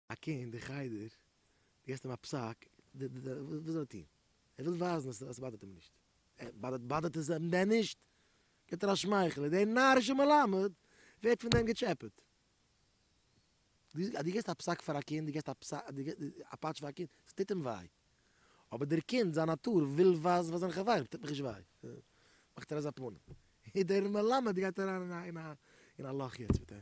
א קינד אין חדר, דו געסט אים א פסק, וואס זאל ער טון? ער וויל ווייזן אז עס באדערט אים נישט. באדערט עס אים דען נישט? גיט ער א שמייכל און דער נארישער מלמד ווערט פון דעם געטשעפעט. דו גיבסט א פסק פאר א קינד, דו גיבסט א פסק, דו גיבסט א פאטש פאר א קינד, עס טוט אים וויי. אבער דער קינד, זיין נאטור וויל ווייזן פאר זיינע חברים, עס טוט מיך נישט וויי. מאכט ער אזא פנים. און דער מלמד גייט אריין אין א לאך יעצט מיט אים.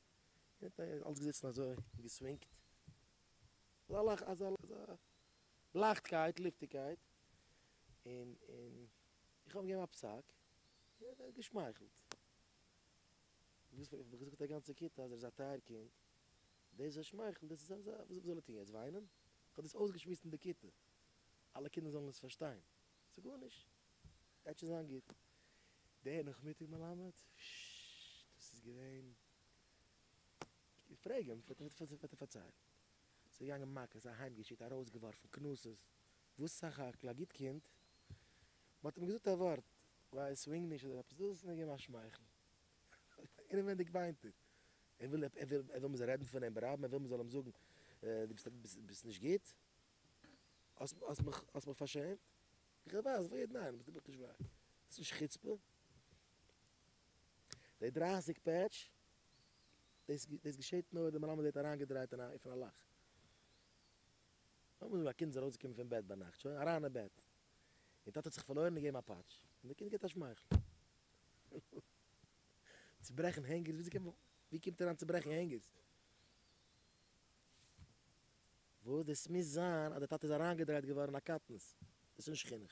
און ער האט אלץ געזיצן אזוי און געסווינגט אזא אזא אזא לייכטקייט לופטיגקייט, און און איך האב אים געגעבן א פסק און ער האט געשמייכלט. וואס האב איך געזאגט א גאנצע כיתה אז ער איז א טייער קינד, דאס אז ער שמייכלט דאס איז אזא וואס זאל ער טון יעצט וויינען? איך האב דאס אויסגעשמועסט אין די כיתה אלע קינדער זאלן עס פארשטיין, ס'גארנישט. גייט שוין זיין גוט. דער נאכמיטאג מלמד, ששששש, דאס איז געווען. איך פרעג אים, וועט ער וועט ער פארציילן. זיי געגאנגען מכות, אהיימגעשיקט, ארויסגעווארפן, קנסות, וואס סך הכל א גוט קינד, מען האט אים געזאגט א ווארט, ווייל ער סווינג נישט אדער עפעס דאס, און ער האט געגעבן א שמייכל. אינעווייניג וויינט ער. ער וויל ער וויל ער וויל מען זאל רעדן פון אים ברבים, ער וויל מען זאל אים זאגן, דו ביסט ביסט ביסט נישט גוט, האסט האסט מיך האסט מיך פארשעמט. איך ווייס ווער ניין ביסט דו בכלל נישט וויי איז דאס נישט חוצפה? די דרײַסיק פעטש דאס דאס געשעט נאר די מלמד ווערט אריינגעדרייט אין א אויפן א לאך נאכדעם ווען א קינד איז ארויסגעקומען פון בעט ביינאכט שוין אריין אין בעט און טאטע האט זיך פארלוירן און געבן א פאטש און די קינד געבט א שמייכל צוברעכן הענגערס וויאזוי קען מען ווי קומט אריין צוברעכן הענגערס? וואס דאס מוז זיין אז די טאטע איז אריינגעדרייט געווארן אין א קטנות, דאס איז נישט חינוך.